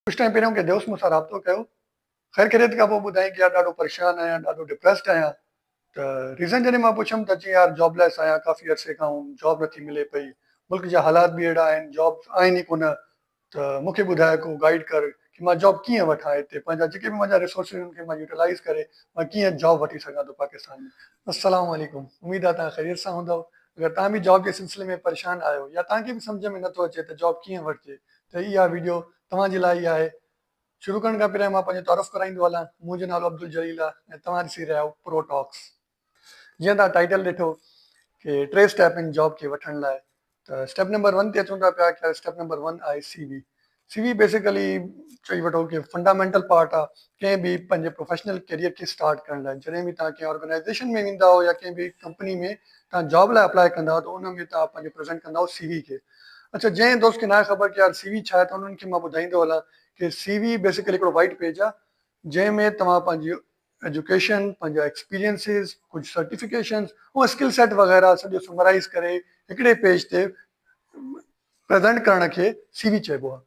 ڪجهه ٽائيم پهريان ڪنهن دوست مون سان رابطو ڪيو خير خيريت کان پوء ٻڌائين ته يار ڏاڍو پريشان آهيان ڏاڍو ڊپريسڊ آهيان ته ريزن جڏهن مان پڇيم ته چيائين يار جاب ليس آهيان ڪافي عرصي کان هوم جاب نه ٿي ملي پئي ملڪ جا حالات به اهڙا آهن جابس آهن ئي ڪونه ته مون کي ٻڌاء ڪو گائيڊ ڪر ڪي مان جاب ڪيئن وٺان هتي پنهنجا جيڪي به منهنجا ريسورسز ان کي مان يوٽيلائيز ڪري مان ڪيئن جاب وٺي سگهان ٿو پاڪستان ۾. السلام عليڪم اميد آهي توهان خيريت سان هوندؤ اگر توهان به جاب جي سلسلي ۾ پريشان آهيو يا توهان کي به سمجهه ۾ نٿو اچي ته جاب ڪيئن وٺجي ته اها ويڊيو توهان جي لاء ئي آهي. شروع ڪرڻ کان پهريان مان پنهنجو تعارف ڪرائيندو هلان، منهنجو نالو عبدالجليل آهي ۽ توهان ڏسي رهيا آهيو پرو ٽاڪس. جيئن توهان ٽائيٽل ڏٺو ڪي ٽي اسٽيپ آهن جاب کي وٺڻ لاء ته اسٽيپ نمبر ون تي اچون ٿا پيا ڪي اسٽيپ نمبر ون آهي C V. C V basically چئي وٺو ڪي فنڊامينٽل پارٽ آهي ڪنهن به پنهنجي پروفيشنل ڪيريئر کي اسٽارٽ ڪرڻ لاء جڏهن به توهان ڪنهن آرگنائيزيشن ۾ ويندا آهيو يا ڪنهن به ڪمپني ۾ توهان جاب لاء اپلائي ڪندا آهيو ته ان ۾ توهان پنهنجو پريزنٽ ڪندا آهيو سي وي کي اڇا جنهن دوست کي ناهي خبر ته يار سي وي ڇا آهي ته انهن کي مان ٻڌائيندو هلان ڪي سي وي بيسڪلي هڪڙو وائيٽ پيج آهي جنهن ۾ توهان پنهنجي ايجوڪيشن پنهنجا ايڪسپيرينسز ڪجهه سرٽيفڪيشنز ۽ اسڪل سيٽ وغيره سڄو سمرائيز ڪري هڪڙي پيج تي پريزنٽ ڪرڻ کي سي وي چئبو آهي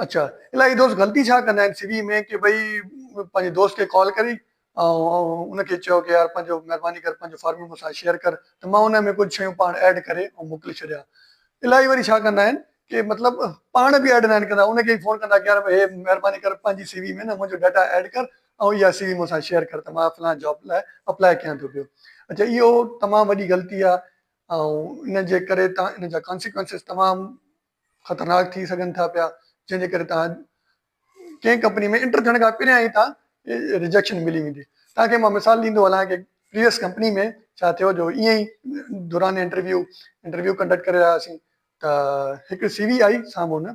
اڇا الائي دوست غلطي ڇا ڪندا آهن سي وي ۾ ڪي ڀئي پنهنجي دوست کي ڪال ڪري آئون ان کي چيو ڪه يار پنهنجو مهرباني ڪر پنهنجو فارمولا مون سان شيئر ڪر ته مان ان ۾ ڪجهه شيون پاڻ ايڊ ڪري ۽ موڪلي ڇڏيان الائي وري ڇا ڪندا آهن ڪي مطلب پاڻ به ايڊ ناهن ڪندا ان کي ئي فون ڪندا ڪه يار هي مهرباني ڪر پنهنجي سي وي ۾ نه منهنجو ڊيٽا ايڊ ڪر ۽ اها سي وي مون سان شيئر ڪر ته مان فلان جاب لاء اپلائي ڪيان ٿو پيو اڇا اهو تمام وڏي غلطي آهي ۽ ان جي ڪري تان ان جا ڪانسيڪوئنسز تمام خطرناڪ ٿي سگهن ٿا پيا جنهن جي ڪري تان ڪنهن ڪمپني ۾ انٽر ٿيڻ کان پھريان ئي تان کي رجيڪشن ملي ويندي تان کي مان مثال ڏيندو ھلان ڪي پريويس ڪمپني ۾ ڇا ٿيو جو ائين ئي دوران انٽرويو انٽرويو ڪنڊڪٽ ڪري رھيا ھئاسين ته ھڪ سي وي آئي سامھون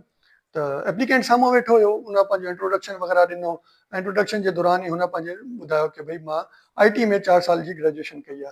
ته ايپليڪينٽ سامھون ويٺو ھيو ان پنھنجو انٽروڊڪشن وغيره ڏنو انٽروڊڪشن جي دوران ئي ھن پنھنجي ٻڌايو ڪي ڀئي مان آئي ٽي ۾ چار سال جي گريجوئيشن ڪئي آ.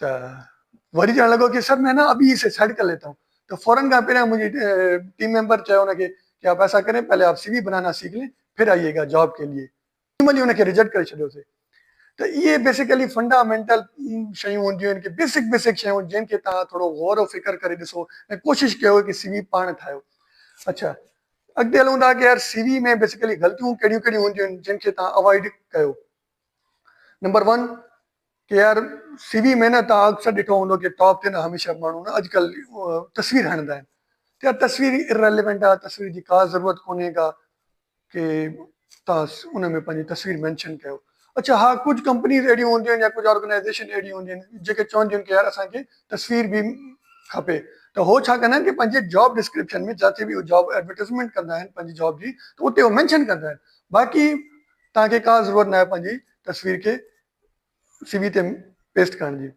ته وري چوڻ لڳو ڪي سر مين نه ابي اسي سيٽ ڪر ليتا هون ته فورن کان پهريان منهنجي ٽيم ميمبر چيو ان کي ڪي آپ ايسا ڪرين پهلي آپ سي وي بنانا سيک لين پھر آئيي گا جاب ڪي ليي ٽيم جي ان کي ريجيڪٽ ڪري ڇڏيو سي ته اهي بيسيڪلي فنڊامينٽل شيون هونديون آهن ڪي بيسڪ بيسڪ شيون جن کي تهان ٿورو غور و فڪر ڪري ڏسو ۽ ڪوشش ڪيو ڪي سي وي پاڻ ٺاهيو اڇا اڳتي هلون ٿا ڪي يار سي وي ۾ بيسيڪلي غلطيون ڪهڙيون ڪهڙيون هونديون آهن جن کي تهان اوائڊ ڪيو نمبر 1 ڪي آر سي وي ۾ نه تان اڪثر ڏٺو هوندو ڪي ٽاپ تي نه هميشه ماڻهو نه اڄڪل تصوير هڻندا آهن ته يار تصوير Irrelevant آهي تصوير جي ڪا ضرورت ڪونهي ڪا ڪي تان ان ۾ پنهنجي تصوير مينشن ڪيو اڇا ها ڪجهه ڪمپنيز اهڙيون هونديون آهن يا ڪجهه آرگنائيزيشن اهڙيون هونديون آهن جيڪي چونديون آهن ڪي يار اسان کي تصوير به کپي ته هو ڇا ڪندا آهن ڪي پنهنجي جاب ڊسڪرپشن ۾ جاٿي به هو جاب ايڊورٽائزمينٽ ڪندا آهن پنهنجي جاب جي ته اتي هو مينشن ڪندا آهن باقي تان کي ڪا ضرورت ناهي پنهنجي تصوير کي سي وي تي پيسٽ ڪرڻ جي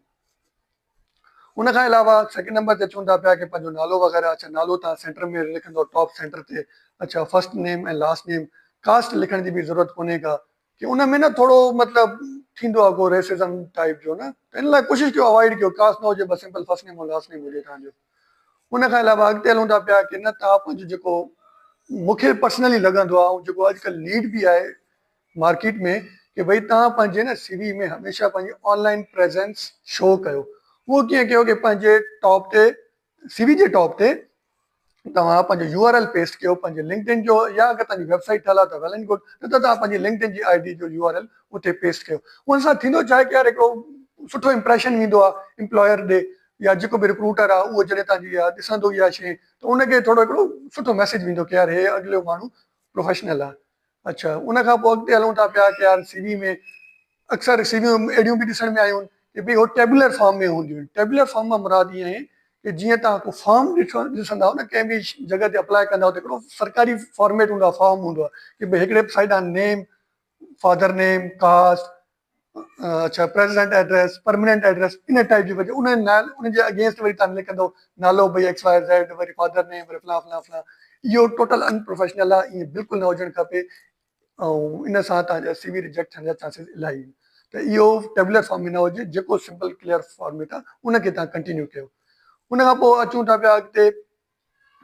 ان کان علاوه سيڪنڊ نمبر تي چون ٿا پيا ڪي پنهنجو نالو وغيره اڇا نالو تان سينٽر ۾ لکندو ٽاپ سينٽر تي اڇا first name ۽ last name caste لکڻ جي به ضرورت ڪونهي ڪا ڪي ان ۾ نه ٿورو مطلب ٿيندو آهي ڪو ريسزم ٽائيپ جو نه ته ان لاء ڪوشش ڪيو اوائڊ ڪيو ڪاسٽ نه هجي بس simple first name ۽ last name هجي تان جو ان کان علاوه اڳتي هلون ٿا پيا ڪي نه تان پنهنجو جيڪو مونکي پرسنلي لڳندو آهي ۽ جيڪو اڄڪلهه نيڊ به آهي مارڪيٽ ۾ ڪي ڀئي توهان پنهنجي نه سي وي ۾ هميشه پنهنجي آن لائين پريزنس شو ڪيو اهو ڪيئن ڪيو ڪي پنهنجي ٽاپ تي سي وي جي ٽاپ تي توهان پنهنجو يو آر ايل پيسٽ ڪيو پنهنجي لنڪڊ ان جو يا اگر توهان جي ويب سائيٽ ٺهيل آهي ته ويل اينڊ گڊ نه ته توهان پنهنجي لنڪڊ ان جي آئي ڊي جو يو آر ايل اتي پيسٽ ڪيو ان سان ٿيندو ڇا آهي ڪي يار هڪڙو سٺو امپريشن ويندو آهي امپلاير ڏي يا جيڪو به رڪروٽر آهي اهو جڏهن توهان جي ڏسندو اها شي ته ان کي ٿورو هڪڙو سٺو ميسيج ويندو ڪي يار هي اڳليو ماڻهو پروفيشنل آهي اڇا ان کان پوء اڳتي هلون ٿا پيا ڪي آر سي وي ۾ اڪثر سي ويون اهڙيون به ڏسڻ ۾ آيون ڪي ڀي هو ٽيبولر فارم ۾ هونديون آهن ٽيبولر فارم مان مراد اها آهي ڪي جيئن توهان ڪو فارم ڏسندا آهيو نه ڪنهن به جڳهه تي اپلاء ڪندا آهيو ته هڪڙو سرڪاري فارميٽ هوندو آهي فارم هوندو آهي ڪي ڀي هڪڙي سائيڊ آهن نيم فادر نيم ڪاسٽ اڇا پريزيڊنٽ ايڊريس پرميننٽ ايڊريس ان ٽائيپ جي وجه انهن نال ان جي اگينسٽ وري تان لکندو نالو ڀئي ايڪس واء زيڊ وري فادر نيم وري فلان فلان فلان اهو ٽوٽل ان پروفيشنل آهي ايئن بلڪل نه هجڻ کپي ۽ ان سان تان جا سي وي ريجيڪٽ ٿيڻ جا چانسز الاهي آهن ته اهو ٽيبلر فارم ۾ نه هجي جيڪو سمپل ڪليئر فارميٽ آهي ان کي تان ڪنٽينيو ڪيو ان کان پوء اچون ٿا پيا اڳتي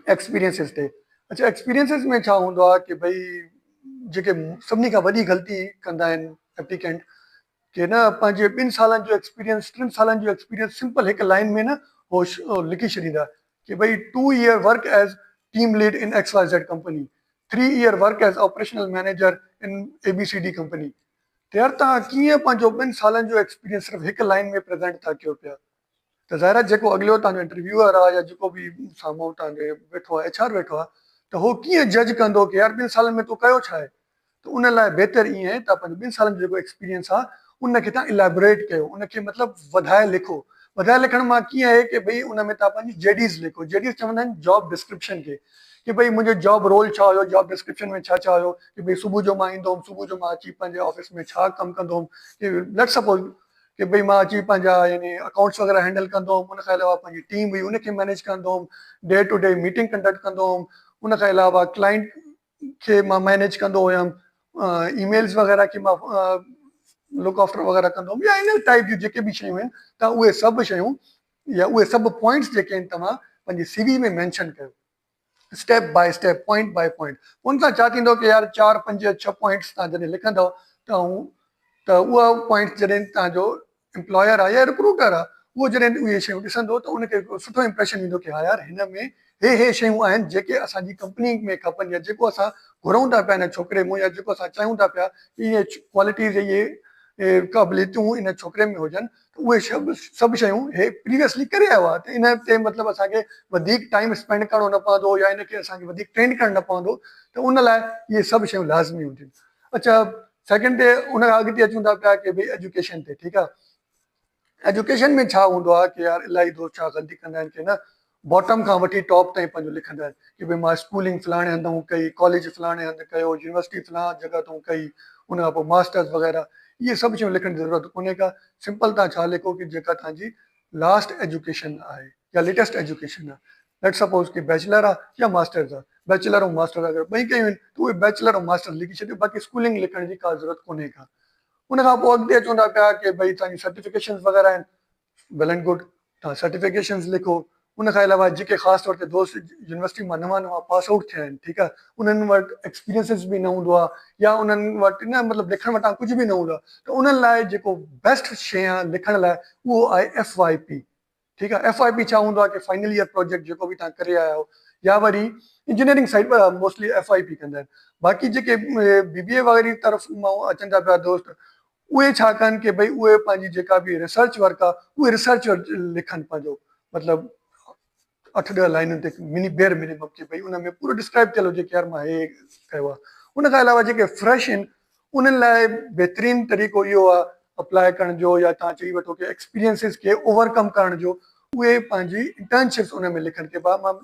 ايڪسپيرينسز تي اچو ايڪسپيرينسز ۾ ڇا هوندو آهي ڪي ڀئي جيڪي سڀني کان وڏي غلطي ڪندا آهن ايپليڪينٽ ڪي نه پنهنجي ٻن سالن جو ايڪسپيرينس ٽن سالن جو ايڪسپيرينس سمپل هڪ لائن ۾ نه هو لکي ڇڏيندا ڪي ڀئي two year work as team lead in X Y Z company three year work as operational manager in A B C D company تيار تان ڪيئن پنهنجو ٻن سالن جو ايڪسپيرينس صرف هڪ لائن ۾ پريزينٽ ٿا ڪيو پيا ته ظاهر آهي جيڪو اڳليو تهانجو انٽرويوئر آ يا جيڪو به سامهون تهانجي ويٺو آ ايڇ آر ويٺو آ ته هو ڪيئن جج ڪندو ڪي يار ٻن سالن ۾ تو ڪيو ڇا آهي ته ان لاء بهتر ائين آهي تان پنهنجو ٻن سالن جو جيڪو ايڪسپيريئنس آ ان کي تهان اليبوريٽ ڪيو ان کي مطلب وڌائي لکو وڌائي لکڻ مان ڪيئن آهي ڪي ڀئي ان ۾ تهان پنهنجي جي ڊيز لکو جي ڊيز چوندا آهن جاب ڊسڪرپشن کي ڪي ڀئي منهنجو جاب رول ڇا هيو جاب ڊسڪرپشن ۾ ڇا ڇا هيو ڪي ڀئي صبح جو مان ايندو هوم صبح جو مان اچي پنهنجي آفيس ۾ ڇا ڪم ڪندو هوم ليٽس سپوز ڪي ڀئي مان اچي پنهنجا يعني اڪائونٽس وغيره هينڊل ڪندو هوم ان کان علاوه پنهنجي ٽيم هئي ان کي مينيج ڪندو هوم day to day meeting conduct ڪندو هوم ان کان علاوه ڪلائنٽ کي مان مينيج ڪندو هيم اي ميلز وغيره کي مان لوڪ آفٽر وغيره ڪندو هوم يا ان ٽائپ جون جيڪي به شيون آهن تون اهي سڀ شيون يا اهي سڀ پوائنٽس جيڪي آهن توهان پنهنجي سي وي ۾ مينشن ڪيو step by step, point by point, ان سان ڇا ٿيندو ته يار چار پنج يا ڇهه پوائنٽس تهان جڏهن لکندؤ ته هون ته اها پوائنٽس جڏهن تهان جو امپلاير آ يا رڪروٽر آ اهو جڏهن اهي شيون ڏسندو ته ان کي هڪڙو سٺو امپريشن ايندو ڪي ها يار هن ۾ هي هي شيون آهن جيڪي اسان جي ڪمپني ۾ کپن يا جيڪو اسان گهرئون ٿا پيا هن ڇوڪري مون يا جيڪو اسان چاهيون ٿا پيا ته اهي ڪوالٽيز اهي قابليتون ان ڇوڪري ۾ هجن اهي سڀ شيون هي پريويسلي ڪري آيو آهي ته ان تي مطلب اسان کي وڌيڪ ٽائيم اسپينڊ ڪرڻو نه پوندو يا ان کي اسان کي وڌيڪ ٽرينڊ ڪرڻ نه پوندو ته ان لاء اهي سڀ شيون لازمي هونديون اڇا سيڪنڊ تي ان کان اڳتي اچون ٿا پيا ڪي ڀي ايجوڪيشن تي ٺيڪ آهي ايجوڪيشن ۾ ڇا هوندو آهي ڪي يار الاهي دوست ڇا غلطي ڪندا آهن ڪي نه باٽم کان وٺي ٽاپ تائين پنهنجو لکندڙ ڪي ڀي مان اسڪولنگ فلاڻي هنڌ تائون ڪئي، ڪاليج فلاڻي هنڌ ڪيو، يونيورسٽي فلان جڳهه تائون ڪئي، ان کان پوء ماسٽرس وغيره اهي سڀ شيون لکڻ جي ضرورت ڪونهي ڪا، سمپل تان ڇا لکو ڪي جيڪا تان جي لاسٽ ايجوڪيشن آهي يا ليٽيسٽ ايجوڪيشن آهي ليٽس سپوز ڪي بيچلر آ يا ماسٽرس آ بيچلر ۽ ماسٽرس اگر ٻئي ڪيون آهن ته اهي بيچلر ۽ ماسٽرس لکي ڇڏيو باقي اسڪولنگ لکڻ جي ڪا ضرورت ڪونهي ڪا ان کان پوء اڳتي اچون ٿا پيا ڪي ڀئي تان جي سرٽيفڪيشنس وغيره آهن ويل اينڊ گڊ توهان سرٽيفڪيشنز لکو ان کان علاوه جيڪي خاص طور تي دوست يونيورسٽي مان نوان نوان پاس آئوٽ ٿيا آهن ٺيڪ آهي انهن وٽ ايڪسپيرينسز به نه هوندو آهي يا انهن وٽ نه مطلب لکڻ وٽان ڪجهه به نه هوندو آهي ته انهن لاء جيڪو بيسٽ شي آهي لکڻ لاء اهو آهي ايف واء پي ٺيڪ آهي ايف واء پي ڇا هوندو آهي ڪي فائنل ايئر پروجيڪٽ جيڪو به توهان ڪري آيا آهيو يا وري engineering side mostly F Y P ڪندا آهن باقي جيڪي بي بي اي وغيره طرف مان اچن ٿا پيا دوست اهي ڇا ڪن ڪي ڀئي اهي پنهنجي جيڪا به ريسرچ ورڪ آ اهي ريسرچ لکن پنهنجو مطلب اٺ ڏهه لائنن تي مني بيئر منيمم ڪي ڀئي ان ۾ پورو ڊسڪرائب ڪيل هجي ڪي يار مان هي ڪيو آ ان کان علاوه جيڪي فريش ان انهن لاء بهترين طريقو اهو آ اپلائي ڪرڻ جو يا توهان چئي وٺو ڪي ايڪسپيرينسز کي اوور ڪم ڪرڻ جو اهي پنهنجي انٽرنشپس ان ۾ لکن ڪي ڀا مان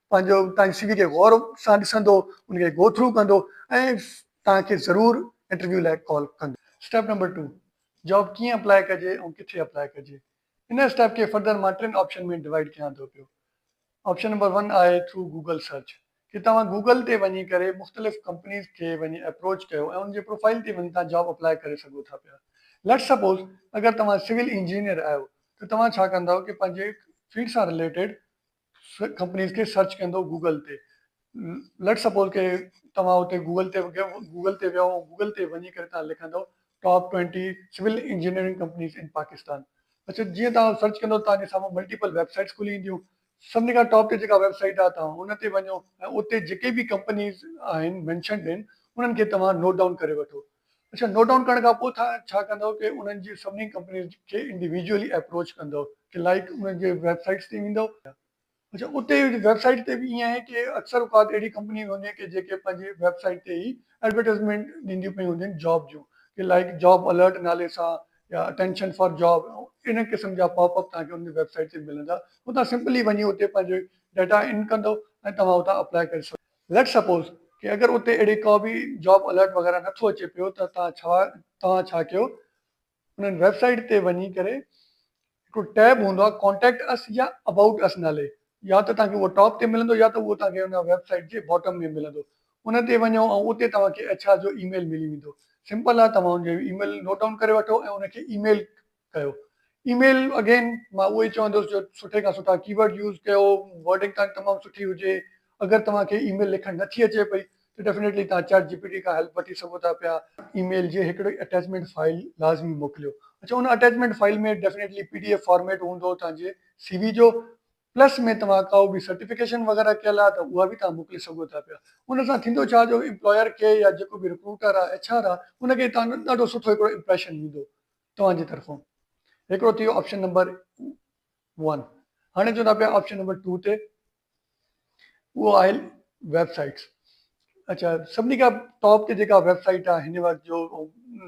پنهنجو تنهنجي سي وي کي غور سان ڏسندو ان کي گو ٿرو ڪندو ۽ توهان کي ضرور انٽرويو لاء ڪال ڪندو. اسٽيپ نمبر ٽو، جاب ڪيئن اپلائي ڪجي ۽ ڪٿي اپلائي ڪجي. ان اسٽيپ کي فردر مان ٽن آپشن ۾ ڊوائيڊ ڪيان ٿو پيو. آپشن نمبر ون آهي ٿرو گوگل سرچ ڪي توهان گوگل تي وڃي ڪري مختلف ڪمپنيز کي وڃي اپروچ ڪيو ۽ ان جي پروفائيل تي وڃي توهان جاب اپلائي ڪري سگهو ٿا پيا. ليٽس سپوز اگر توهان سول انجنيئر آهيو ته توهان ڇا ڪندؤ ڪي پنهنجي فيلڊ سان رليٽيڊ ڪمپنيز کي سرچ ڪندو گوگل تي ليٽس سپوز ڪي توهان اتي گوگل تي گوگل تي ويو گوگل تي وڃي ڪري توهان لکندو top twenty civil engineering companies in Pakistan اچا جيئن توهان سرچ ڪندو توهان جي سامهون ملٽيپل ويب سائيٽس کلي اينديون سڀني کان ٽاپ تي جيڪا ويب سائيٽ آهي توهان ان تي وڃو ۽ اتي جيڪي به ڪمپنيز آهن مينشنڊ آهن انهن کي توهان نوٽ ڊائون ڪري وٺو اچا نوٽ ڊائون ڪرڻ کانپوء ٿا ڇا ڪندؤ ته انهن جي سڀني ڪمپنيز کي انڊيويجوئلي ايپروچ ڪندؤ ته لائيڪ انهن جي ويب سائيٽس تي ويندؤ يا اچا اتي ويب سائيٽ تي به ائين آهي ڪي اڪثر اوقات اهڙي ڪمپنيون به هونديون ڪي جيڪي پنهنجي ويب سائيٽ تي ئي ايڊورٽائيزمينٽ ڏينديون پيون هوندين جاب جون ڪي لائيڪ جاب الرٽ نالي سان يا اٽينشن فار جاب انهن قسم جا پاپ اپ توهان کي انهن جي ويب سائيٽ تي ملندا هو توهان سمپلي وڃي اتي پنهنجو ڊيٽا ان ڪندؤ ۽ توهان اتان اپلائي ڪري سگهو ليٽس سپوز ڪي اگر اتي اهڙي ڪا به جاب الرٽ وغيره نه ٿو اچي پيو ته تان ڇا توهان ڇا ڪيو انهن ويب سائيٽ تي وڃي ڪري هڪڙو ٽيب هوندو آهي ڪانٽيڪٽ اس يا ابائوٽ اس نالي يا ته توهان کي اهو ٽاپ تي ملندو يا ته اهو توهان کي ان ويب سائيٽ جي باٽم ۾ ملندو ان تي وڃو ۽ اتي توهان کي ايڇ آر جو اي ميل ملي ويندو سمپل آهي توهان ان جو اي ميل نوٽ ڊائون ڪري وٺو ۽ ان کي اي ميل ڪيو اي ميل اگين مان اهو ئي چوندس جو سٺي کان سٺا ڪي ورڊ يوز ڪيو ورڊنگ تان تمام سٺي هجي اگر توهان کي اي ميل لکڻ نٿي اچي پئي ته ڊيفنيٽلي توهان چيٽ جي پي ٽي کان هيلپ وٺي سگهو ٿا پيا. اي ميل جي هڪڙي اٽيچمينٽ فائل لازمي موڪليو اڇا ان attachment file ۾ definitely P D F format هوندو توهان جي سي وي جو پلس ۾ توهان ڪا به سرٽيفڪيشن وغيره ڪيل آهي ته اها به توهان موڪلي سگهو ٿا پيا ان سان ٿيندو ڇا جو امپلاير کي يا جيڪو به رڪروٽر آهي ايڇ آر آهي ان کي توهان جو ڏاڍو سٺو هڪڙو امپريشن ايندو. توهان جي طرفون هڪڙو ٿي ويو آپشن نمبر ون هاڻي اچون ٿا پيا آپشن نمبر ٽو تي اهو آهي ويب سائيٽس اچا سڀني کان ٽاپ تي جيڪا ويب سائيٽ آهي هن وقت جو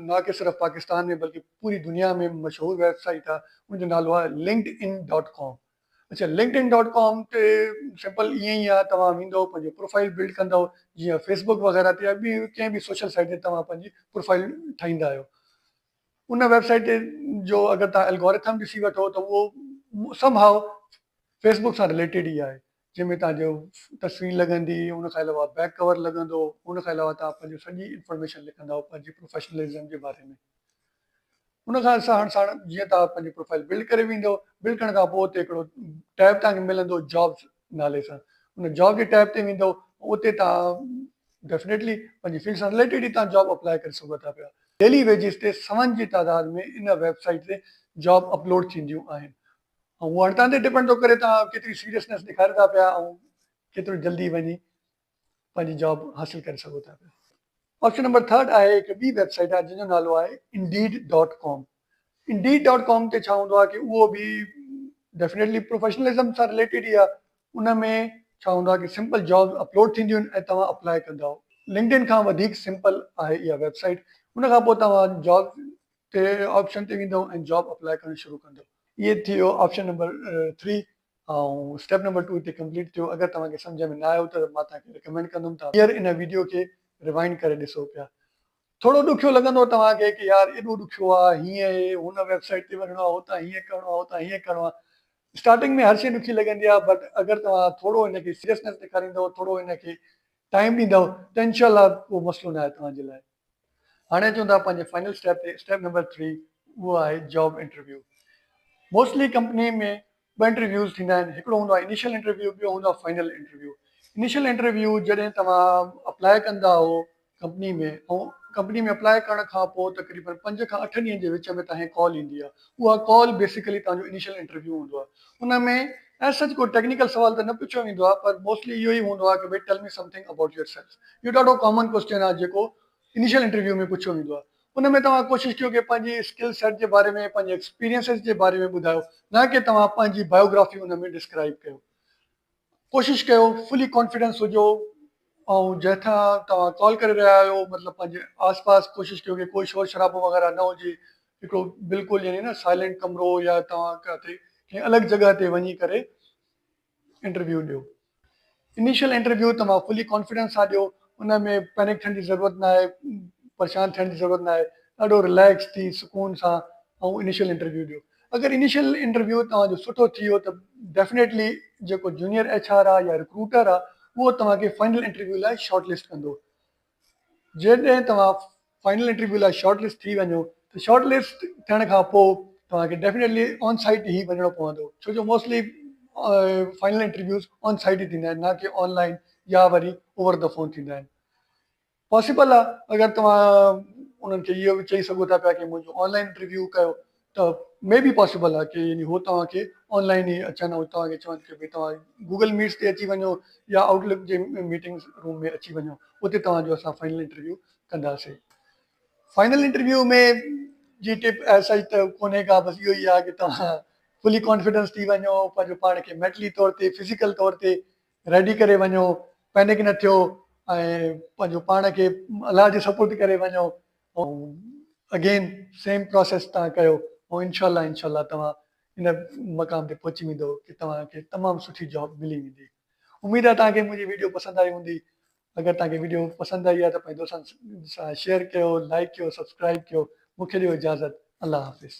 نه ڪي صرف پاڪستان ۾ بلڪه پوري دنيا ۾ مشهور ويب سائيٽ آهي ان جو نالو آهي لنڪڊ ان ڊاٽ ڪام اچا لنڪڊن ڊاٽ ڪام تي سمپل ائين ئي آهي توهان ويندو پنهنجو پروفائيل بلڊ ڪندو جيئن فيسبڪ وغيره تي يا ٻي ڪنهن به سوشل سائيٽ تي توهان پنهنجي پروفائيل ٺاهيندا آهيو ان ويب سائيٽ تي جو اگر توهان الگوريٿم ڏسي وٺو ته اهو سم هاء فيسبڪ سان رليٽيڊ ئي آهي جنهن ۾ توهان جو تصوير لڳندي، ان کان علاوه بيڪ ڪور لڳندو، ان کان علاوه توهان پنهنجو سڄي انفارميشن لکندؤ پنهنجي پروفيشنلزم جي باري ۾. ان کان ساڻ ساڻ جيئن توهان پنهنجي پروفائيل بلڊ ڪري ويندؤ، بلڊ ڪرڻ کان پوء اتي هڪڙو ٽيب توهان کي ملندو جابس نالي سان، ان جاب جي ٽيب تي ويندؤ اتي توهان ڊيفنيٽلي پنهنجي فيلڊ سان رليٽيڊ ئي توهان جاب اپلائي ڪري سگهو ٿا پيا. ڊيلي ويجز تي سون جي تعداد ۾ ان ويب سائيٽ تي جاب اپلوڊ ٿينديون آهن. اهو هاڻي توهان تي ڊپينڊ ٿو ڪري توهان ڪيتري سيريسنيس ڏيکاريو ٿا پيا ۽ ڪيترو جلدي وڃي پنهنجي جاب حاصل ڪري سگهو ٿا پيا. آپشن نمبر ٿرڊ آهي هڪ ٻي ويب سائيٽ آهي جنهن جو نالو آهي Indeed dot com Indeed dot com تي ڇا هوندو آهي ڪي اهو به ڊيفنيٽلي پروفيشنلزم سان رليٽيڊ ئي آهي ان ۾ ڇا هوندو آهي ڪي سمپل جابس اپلوڊ ٿينديون آهن ۽ توهان اپلائي ڪندا آهو لنڪڊن کان وڌيڪ سمپل آهي اها ويب سائيٽ ان کان پوء توهان جابس تي آپشن تي ويندؤ ۽ جاب اپلائي ڪرڻ شروع ڪندؤ اهي ٿي ويو option number three ۽ step number two هتي ڪمپليٽ ٿيو اگر توهان کي سمجهه ۾ نه آيو ته مان توهان کي رڪمينڊ ڪندم ته ٻيهر ان ويڊيو کي روائنڊ ڪري ڏسو پيا ٿورو ڏکيو لڳندو توهان کي ڪي يار ايڏو ڏکيو آ هيئن اهي هن ويب سائيٽ تي وڃڻو آ هتان هيئن ڪرڻو آ هتان هيئن ڪرڻو آ اسٽارٽنگ ۾ هر شي ڏکي لڳندي آ بٽ اگر توهان ٿورو هن کي سيريسنس ڏيکاريندؤ ٿورو هن کي ٽائيم ڏيندؤ ته انشاء الله ڪو مسئلو نه آهي توهان جي لاء هاڻي اچون ٿا پنهنجي فائنل اسٽيپ تي اسٽيپ نمبر ٿري اهو آهي جاب انٽرويو موسٽلي ڪمپني ۾ ٻه انٽرويوز ٿيندا آهن هڪڙو هوندو آهي انيشل انٽرويو ٻيو هوندو آهي فائنل انٽرويو انيشل انٽرويو جڏهن توهان اپلاء ڪندا آهو ڪمپني ۾ ۽ ڪمپني ۾ اپلاء ڪرڻ کان پوء تقريبن پنج کان اٺ ڏينهن جي وچ ۾ توهان کي ڪال ايندي آهي اها ڪال بيسڪلي توهان جو انيشل انٽرويو هوندو آهي ان ۾ as such ڪو ٽيڪنيڪل سوال ته نه پڇيو ويندو آهي پر موسٽلي اهو ئي هوندو آهي ته ڀئي tell me something about yourself. اهو ڏاڍو ڪامن ڪوسچن آهي جيڪو انيشل انٽرويو ۾ پڇيو ويندو آهي. ان ۾ توهان ڪوشش ڪيو ڪي پنهنجي اسڪل سيٽ جي باري ۾ پنهنجي ايڪسپيرينسز جي باري ۾ ٻڌايو نه ڪي توهان پنهنجي بايوگرافي ان ۾ ڊسڪرائيب ڪيو. ڪوشش ڪيو فلي ڪانفيڊنس هجو ۽ جنهن کان توهان ڪال ڪري رهيا آهيو مطلب پنهنجي آس پاس ڪوشش ڪيو ڪي ڪوئي شور شرابو وغيره نه هجي هڪڙو بلڪل يعني نه سائلينٽ ڪمرو يا توهان ڪاٿي ڪنهن الڳ جڳهه تي وڃي ڪري انٽرويو ڏيو انيشل انٽرويو توهان فلي ڪانفيڊنس سان ڏيو ان ۾ پينڪ ٿيڻ جي ضرورت نه آهي پريشان ٿيڻ جي ضرورت نه آهي ڏاڍو رليڪس ٿي سڪون سان انيشل انٽرويو ڏيو اگر انيشل انٽرويو توهان جو سٺو ٿي ويو ته ڊيفنيٽلي جيڪو جونيئر ايڇ آر آ يا رڪروٽر آ اهو توهان کي فائنل انٽرويو لاء شارٽ لسٽ ڪندو. جيڏهن توهان فائنل انٽرويو لاء شارٽ لسٽ ٿي وڃو ته شارٽ لسٽ ٿيڻ کان پوء توهان کي ڊيفنيٽلي آن سائيٽ هي وڃڻو پوندو ڇو جو mostly final interviews on site ئي ٿيندا آهن نه ڪي آن لائن يا وري اوور دي فون ٿيندا آهن. پاسيبل آ اگر توهان انهن کي اهو به چئي سگهو ٿا پيا ڪي منهنجو آن لائين پريويو ڪيو ته مي بي پاسيبل آ ڪي يعني هو توهان کي آن لائين ئي اچن ۽ توهان کي چون ته ڀي توهان گوگل ميٽس تي اچي وڃو يا آئوٽ لڪ جي ميٽنگس روم ۾ اچي وڃو اتي توهان جو اسان فائنل انٽرويو ڪنداسي فائنل انٽرويو ۾ جي ٽپ ايس ايچ ته ڪونهي ڪا بس اهو ئي آ ڪي توهان فلي ڪانفيڊنس ٿي وڃو پنهنجو پاڻ کي مينٽلي طور تي فزيڪل طور تي ريڊي ڪري وڃو، پينڪ نه ٿيو ۽ پنهنجو پاڻ کي الله جي سپرد ڪري وڃو ۽ اگين سيم پراسيس تهان ڪيو ۽ انشاء الله انشاء الله توهان ان مقام تي پهچي ويندو ڪي توهان کي تمام سٺي جاب ملي ويندي اميد آهي توهان کي منهنجي ويڊيو پسند آئي هوندي اگر توهان کي ويڊيو پسند آئي آهي ته پنهنجي دوستن سان شيئر ڪيو لائڪ ڪيو سبسڪرائب ڪيو مون کي ڏيو اجازت الله حافظ